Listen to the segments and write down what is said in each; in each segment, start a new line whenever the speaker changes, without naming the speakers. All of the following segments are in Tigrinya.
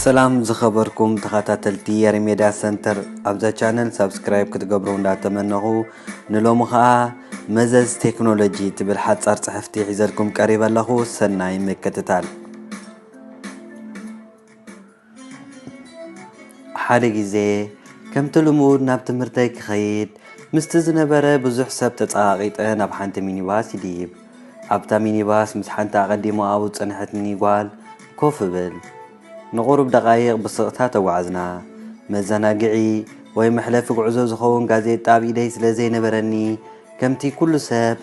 ሰላም ዝኸበርኩም ተኸታተልቲ የሪሜዳ ሰንተር ኣብዛ ቻነል ሳብስክራይብ ክትገብሩ እንዳተመነኹ ንሎሚ ኸኣ መዘዝ ቴክኖሎጂ ትብል ሓጻር ጽሕፍቲ ሒዘልኩም ቀሪበ ኣለኹ ሰናይ ምክትታል ሓደ ግዜ ከምቲ ልሙድ ናብ ትምህርተይ ክኸይድ ምስቲ ዝነበረ ብዙሕ ሰብ ተጸቓቒጠ ናብ ሓንቲ ሚኒባስ ይድይብ። ኣብታ ሚኒባስ ምስ ሓንቲ ኣቐዲሙ ኣብኡ ዝጸንሐትኒ ጓል ኮፍ እብል። ንቑሩብ ደቓይቕ ብስቕታ ተጓዕዝና። መዘናግዒ ወይ መሕለፊ ጉዕዞ ዝኸውን ጋዜጣ ኣብ ኢደይ ስለ ዘይነበረኒ ከምቲ ኩሉ ሰብ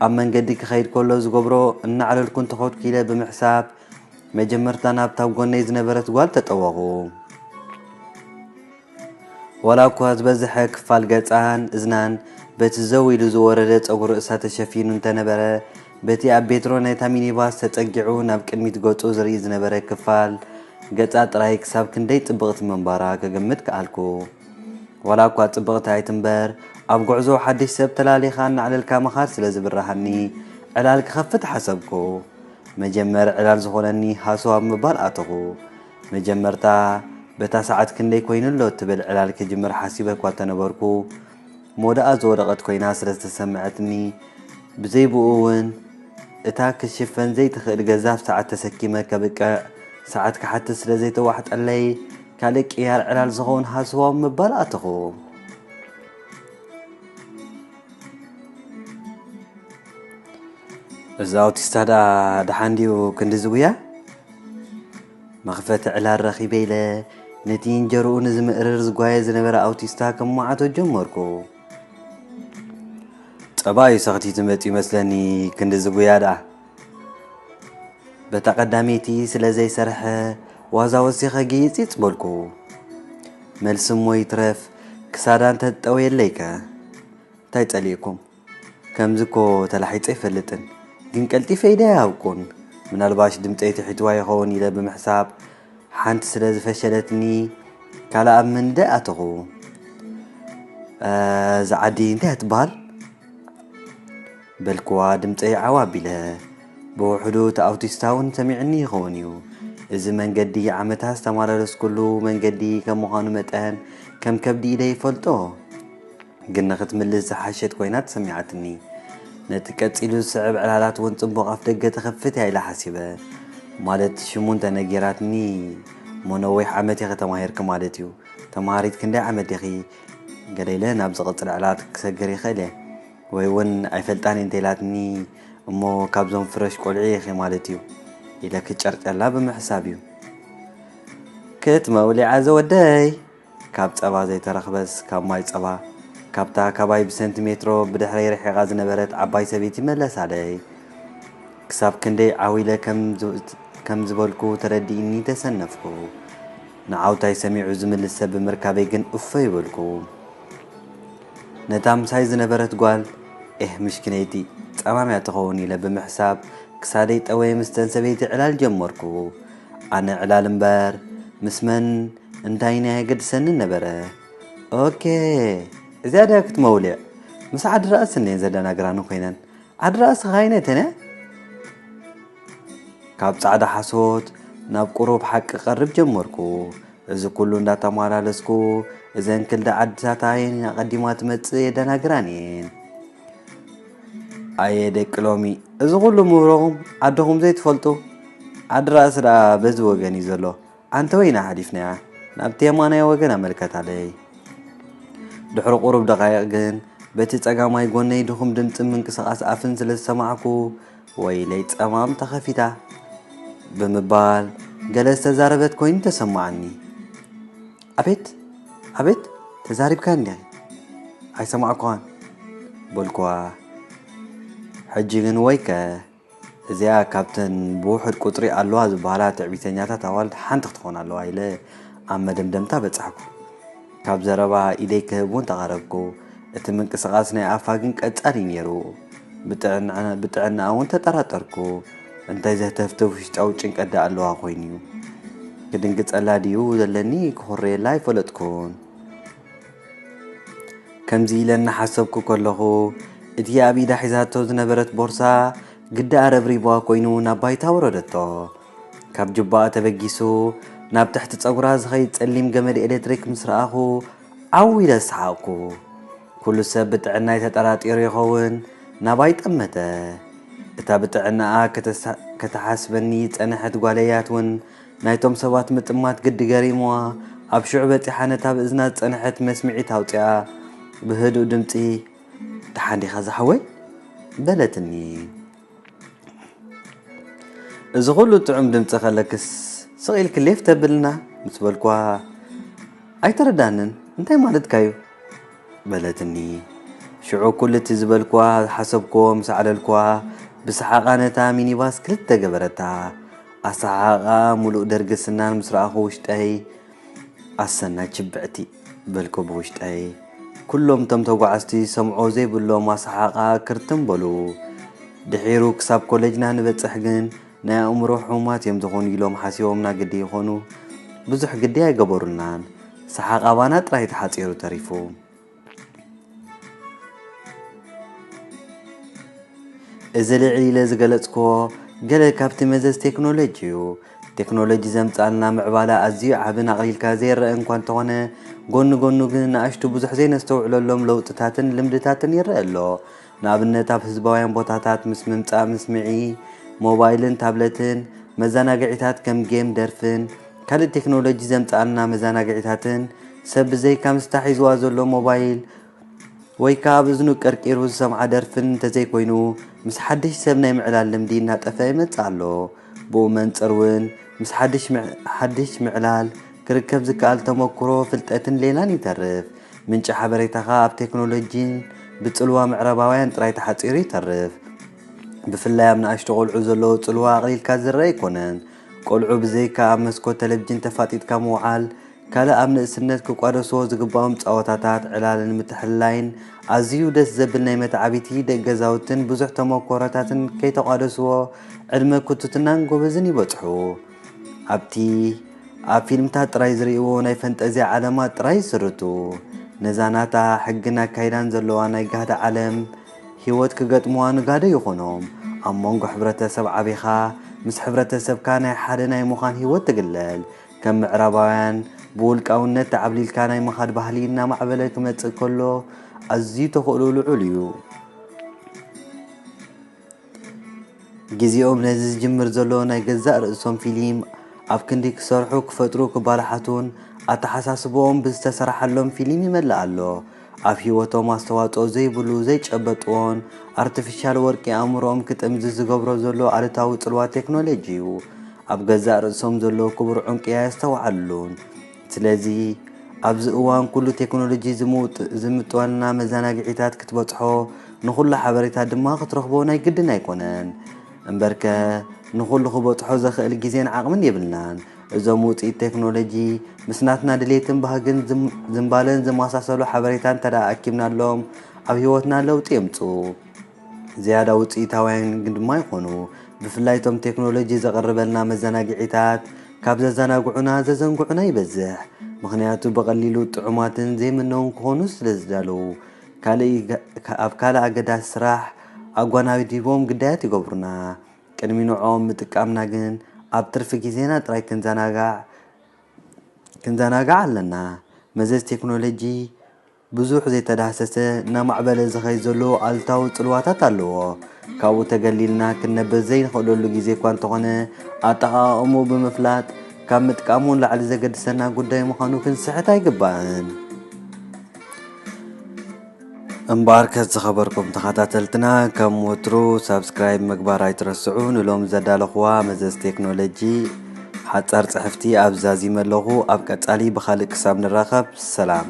ኣብ መንገዲ ክኸይድ ከሎ ዝገብሮ እናዕለልኩ እንተኸድኩ ኢለ ብምሕሳብ መጀመርታ ናብታ ኣብ ጎነይ ዝነበረት ጓል ተጠወኹ። ዋላ'ኳ ዝበዝሐ ክፋል ገጻን እዝናን በቲ ዘው ኢሉ ዝወረደ ጸጉሪ ርእሳ ተሸፊኑ እንተነበረ፣ በቲ ኣብ ቤትሮ ናይታ ሚኒባስ ተጸጊዑ ናብ ቅድሚት ገጹ ዝርኢ ዝነበረ ክፋል ገጻ ጥራይ ክሳብ ክንደይ ጽብቕቲ ምንባራ ክግምት ከኣልኩ። ዋላ'ኳ ጽብቕቲ ኣይትንበር፣ ኣብ ጉዕዞ ሓድሽ ሰብ ተላሊኻ እናዕለልካ ምኻድ ስለ ዝብርሃኒ፣ ዕላል ክኸፍት ሓሰብኩ። መጀመሪ ዕላል ዝኾነኒ ሃሰው ኣብ ምባል ኣተኹ። መጀመርታ በታ ሰዓት ክንደይ ኮይኑ ኣሎ እትብል ዕላል ክጅምር ሓሲበ እኳ እንተነበርኩ፣ ሞዳኣ ዝወደቐት ኮይና ስለ ዝተሰመዐትኒ፣ ብዘይ ብኡ እውን እታ ክትሽፈን ዘይትኽእል ገዛፍ ሰዓት ተሰኪመ ከብቅዕ ሰዓት ክሓትት ስለ ዘይተዋሕጠለይ፣ ካልእ ቅያር ዕላል ዝኸውን ሃሰው ኣብ ምባል ኣተኹ። እዚ ኣውቲስታ ደኣ ደሓን ድዩ ክንድዚ ጉያ? መኽፈቲ ዕላል ረኺበ ኢለ ነቲ እንጀርኡ ንዝምእርር ዝጓየ ዝነበረ ኣውቲስታ ከሟዓቶ ጀመርኩ። ጸባዩ ሰኽቲቱ መጺኡ መስለኒ ክንድዚ ጉያ ደኣ። በታ ቀዳመይቲ ስለ ዘይሰርሐ ዋዛ ወሲኸ ግይጽይጽ በልኩ። መልሲ'ሞ ይትረፍ ክሳዳ እንተትጠውየለይከ? እንታይ ጸሊእኩም? ከምዚ'ኮ ተላሒጸ ኣይፈልጥን፣ ግን ቀልጢፈ ኢደ ኣይሃብኩን። ምናልባሽ ድምጸይ ትሒትዋ ይኸውን ኢለ ብምሕሳብ ሓንቲ ስለ ዝፈሸለትኒ ካልእ ኣብ ምንዳይ ኣተኹ። እዛ ዓዲ እንታይ እያ ትበሃል? በልክዋ ድምጸይ ዓው ኣቢለ። ብውሕዱ እቲ ኣውቲስታ ውን ሰሚዑኒ ይኸውን እዩ። እዚ መንገዲ ዓመታት ዝተማላለስኩሉ መንገዲ ከም ምዃኑ መጠን ከም ከብዲ ኢደ ይፈልጦ። ግን ንኽትምልስ ዝሓሸት ኮይና ተሰሚዓትኒ። ነቲ ቀጺሉ ዝስዕብ ዕላላት ውን ጽቡቕ ኣፍደገ ትኸፍት እያ ኢለ ሓሲበ። ማለት ሽሙ እንተ ነጊራትኒ እሞ ነዊሕ ዓመት ኢኺ ተማሂርኪ ማለት እዩ። ተማሃሪት ክንደይ ዓመት ዲኺ? ገለ ኢለ ናብ ዝቕጽል ዕላላት ክሰግር ይኽእል እየ። ወይ ውን ኣይፈልጣን እየ እንተኢላትኒ እሞ ካብዞም ፍረሽ ቆልዑ ኢኺ ማለት እዩ ኢለ ክጨርጨላ ብምሕሳብ እዩ ክትመውሊዓ ዘወደይ ካብ ጸባ ዘይተረኽበስ ካብ ማይ ጸባ ካብታ ካባይ ብሰንቲ ሜትሮ ብድሕረይ ርሒቓ ዝነበረት ዓባይ ሰበይቲ መለሳለይ ክሳብ ክንደይ ዓው ኢለ ከም ዝበልኩ ተረዲእኒ ተሰነፍኩ ንዓውታይ ሰሚዑ ዝምልስ ሰብ ብምርካበይ ግን እፎይ በልኩ ነታ ምሳይ ዝነበረት ጓል፣ ኤህ ምስኪነይቲ፣ ጸማም'ያ ትኸውን ኢለ ብምሕሳብ፣ ክሳደይ ጠወየ ምስተን ሰበይቲ ዕላል ጀመርኩ። ኣነ ዕላል እምበር፣ ምስ መን እንታይን ኣየገድሰንን ነበረ። ኦኬ! እዚኣ ድያ ክትመውሊዕ? ምስ ዓዲ ራእስን'የን ዘደናግራኒ ኮይነን። ዓዲ ራእሲ ከ ኣይነተን'ያ? ካብ ጻዕዳ ሓሶት ናብ ቁሩብ ሓቂ ክቐርብ ጀመርኩ። እዚ ኩሉ እንዳተማላለስኩ እዘን ክልደ ዓድታት ኣየን ኣቐዲማ ትመጽእ የደናግራን እየን። ኣየ ደቂ ሎሚ እዚ ኩሉ ምህሮኹም ዓድኹም ዘይትፈልጡ ዓዲ ራእሲ ደኣ በዚ ወገን እዩ ዘሎ ኣንተወይ ኢና ሓሊፍናያ ናብቲ የማናይ ወገን ኣመልከታለይ ድሕሪ ቁሩብ ደቃይቕ ግን በቲ ጸጋማይ ጎነይ ድኹም ድምጺ ምንቅስቓስ ኣፍን ስለ ዝሰማዕኩ ወይለይ ጸማም ተኸፊታ ብምባል ገለ ዝተዛረበት ኮይኑ ተሰማዓኒ። ኣቤት ኣቤት ተዛሪብካ እንዲኺ ኣይሰማዕኩኻን በልኩዋ። ሕጂ ግን ወይከ እዚኣ ካብተን ብውሑድ ቁጽሪ ኣለዋ ዝበሃላ ትዕቢተኛታት ኣዋልድ ሓንቲ ክትኾን ኣለዋ ኢለ ኣብ መደምደምታ በጻሕኩ። ካብ ዘረባ ኢደይ ክህብ እውን ተቓረብኩ። እቲ ምንቅስቓስ ናይ ኣፋ ግን ቀጻሊ እዩ ነይሩ። ብጥዕናኣ እውን ተጠራጠርኩ። እንታይ ዘህተፍትፍ ውሽጣዊ ጭንቀት ደኣ ኣለዋ ኮይኑ እዩ። ክድንግጸላ ድዩ ዘለኒ ክኹረየላ ኣይፈለጥኩን። ከምዚ ኢለ እናሓሰብኩ ከለኹ እቲ ኣብ ኢዳ ሒዛቶ ዝነበረት ቦርሳ ግዳ ኣረብሪብዋ ኮይኑ ናብ ባይታ ኣውረደቶ። ካብ ጁባኣ ተበጊሱ ናብ ትሕቲ ጸጉራ ዝኸይድ ጸሊም ገመድ ኤሌክትሪክ ምስ ረኣኹ ዓው ኢለ ሰሓቕኩ። ኩሉ ሰብ ብጥዕናይ ተጠራጢሩ ይኸውን ናባይ ጠመተ። እታ ብጥዕናኣ ከተሓስበኒ ዝጸንሐት ጓለያት እውን ናይቶም ሰባት ምጥማት ግዲ ገሪምዋ ኣብ ሽዑ በጺሓ ነታ ብእዝና ዝጸንሐት መስምዒት ኣውጺኣ ብህዱእ ድምጺ ደሓን ዲኻ ዝሓወይ? በለትኒ። እዚ ኩሉ ጥዑም ድምጺ ከለክስ ስቕ ኢልኪ ሌፍ ተብልና ምስ በልኩዋ ኣይተረድኣንን እንታይ ማለትካ'ዩ በለትኒ። ሽዑ ኩሉ እቲ ዝበልኩዋ ዝሓሰብኩዎ ምስ ኣዕለልኩዋ ብሰሓቓ ነታ ሚኒባስ ክልተ ገበረታ። ኣሰሓሕቓኣ ምሉእ ደርጊ ስናን ምስ ረኣኹ ውሽጠይ ኣሰና ችብዕቲ። በልኩ ብውሽጠይ። ኩሎም እቶም ተጓዓዝቲ ዝሰምዕዎ ዘይብሎም ኣሰሓቕኣ ክርትም በሉ። ድሒሩ ክሳብ ኮለጅና ንበጽሕ ግን ናይ ኣእምሮ ሕሙማት እዮም ዝኾኑ ኢሎም ሓሲቦምና ግዲ ይኾኑ ብዙሕ ግዲ ኣይገበሩልናን። ሰሓቕ ኣባና ጥራይ ተሓጺሩ ተሪፉ። እዚ ልዕል ኢለ ዝገለጽክዎ ገለ ካብቲ መዘዝ ቴክኖሎጅ እዩ። ቴክኖሎጂ ዘምጽኣልና ምዕባለ ኣዝዩ ዓብን ኣቕሊልካ ዘይረኣን እኳ እንተኾነ፣ ጎኒ ጎኑ ግን ንኣሽቱ ብዙሕ ዘይነስተውዕለሎም ለውጥታትን ልምድታትን ይረኣ ኣሎ። ንኣብነት ኣብ ህዝባውያን ቦታታት ምስ ምምጻእ ምስምዒ ሞባይልን ታብለትን፣ መዘናግዒታት ከም ጌም፣ ደርፍን ካልእ ቴክኖሎጂ ዘምጽኣልና መዘናግዒታትን ሰብ ብዘይካ ምስታ ሒዝዋ ዘሎ ሞባይል ወይ ከኣ ኣብ እዝኑ ቀርቂሩ ዝሰምዓ ደርፍን እንተዘይኮይኑ ምስ ሓድሽ ሰብ ናይ ምዕላል ልምዲ እናጠፍኣ ይመጽእ ኣሎ። ብኡ መንጽር ውን ምስ ሓድሽ ምዕላል ክርከብ ዝከኣል ተመኩሮ፣ ፍልጠትን ሌላን ይተርፍ። ምንጪ ሓበሬታኻ ኣብ ቴክኖሎጂን ብጽልዋ ምዕራባውያን ጥራይ ተሓጺሩ ይተርፍ። ብፍላይ ኣብ ንኣሽቱ ቆልዑ ዘለዎ ጽልዋ ኣቕሊልካ ዝርኣ ኣይኮነን። ቆልዑ ብዘይካ ኣብ መስኮት ተለቪጅን ተፋጢጥካ ምውዓል፣ ካልእ ኣብ ንእስነት ክቋደሶ ዝግባኦም ጸወታታት፣ ዕላልን ምትሕልላይን፣ ኣዝዩ ደስ ዘብል ናይ መተዓቢቲ ደቅ ገዛውትን ብዙሕ ተሞኮሮታትን ከይተቋደስዎ ዕድመ ኩትትናን ጎበዝን ይበጽሑ። ኣብቲ ኣብ ፊልምታት ጥራይ ዝርእይዎ ናይ ፈንጠዝያ ዓለማት ጥራይ ይስርቱ። ነዛ ናታ ሕግን ኣካይዳን ዘለዋ ናይ ጋህዲ ዓለም ህይወት ክገጥምዋ ንጋዶ ይኾኖም። ኣብ መንጎ ሕብረተሰብ ዓቢኻ ምስ ሕብረተሰብካ ናይ ሓደ ናይ ምዃን ህይወት ትግለል። ከም ምዕራባውያን ብውልቃውነት ተዓብሊልካ ናይ ምኻድ ባህሊ እናማዕበለ ክመጽእ ከሎ ኣዝዩ ተኽእሎ ልዑል እዩ። ግዜኦም ነዚ ዝጅምር ዘሎ ናይ ገዛእ ርእሶም ፊሊም ኣብ ክንዲ ክሰርሑ ክፈጥሩ ክባላሓቱን ኣተሓሳስባኦም ብዝተሰራሓሎም ፊሊም ይመልእ ኣሎ። ኣብ ሂወቶም ኣስተዋጽኦ ዘይብሉ ዘይጨበጥዎን ኣርተፊሻል ወርቂ ኣእምሮኦም ክጥምዝዝ ዝገብሮ ዘሎ ኣሉታዊ ጽልዋ ቴክኖሎጂ እዩ። ኣብ ገዛእ ርእሶም ዘሎ ክቡር ዑንቂ ኣየስተውዓሉሉን። ስለዚ ኣብዚ እዋን ኩሉ ቴክኖሎጂ ዝምጥወልና መዘናግዒታት ክትበጽሖ ንኹሉ ሓበሬታ ድማ ክትረኽቦ ናይ ግድን ኣይኮነን። እምበርከ ንኹሉ ክበጽሖ ዘኽእል ግዜን ዓቕምን የብልናን። እዞም ውፅኢት ቴክኖሎጂ ምስ ናትና ድሌትን ባህግን ዝምባለን ዝመሳሰሉ ሓበሬታ እንተደኣ ኣኪብናሎም ኣብ ህይወትና ለውጢ የምፅኡ። ዝያዳ ውፅኢታውያን ግን ድማ ይኾኑ። ብፍላይ እቶም ቴክኖሎጂ ዘቕርበልና መዘናግዒታት ካብ ዘዘናግዑና ዘዘንግዑና ይበዝሕ። ምኽንያቱ ብቐሊሉ ጥዑማትን ዘይምነውን ክኾኑ ስለዝዳለዉ። ካልእ ኣብ ካልእ ኣገዳሲ ስራሕ ኣጓናዲቦም ግዳያት ይገብሩና። ቅድሚ ንዕኦም ምጥቃምና ግን ኣብ ትርፊ ግዜና ጥራይ ክንዘናጋዕ ክንዘናጋዕ ኣለና። መዘዝ ቴክኖሎጂ ብዙሕ ዘይተዳህሰሰ እናማዕበለ ዝኸይድ ዘሎ ኣሉታዊ ጽልዋታት ኣለዎ። ካብኡ ተገሊልና ክንነብር ዘይንኽእለሉ ግዜ እኳ እንተኾነ ኣጠቓቕምኡ ብምፍላጥ ካብ ምጥቃሙ ንላዕሊ ዘገድሰና ጉዳይ ምዃኑ ክንስሕት ኣይግባእን። እምበኣርከስ ዝኸበርኩም ተኸታተልትና ከም ወትሩ ሳብስክራይብ ምግባር ኣይትረስዑ። ንሎሚ ዘዳለኹዋ መዘዝ ቴክኖሎጂ ሓጻር ጽሕፍቲ ኣብ ዛዚመ ኣለኹ። ኣብ ቀጻሊ ብኻልእ ክሳብ ንራኸብ ሰላም።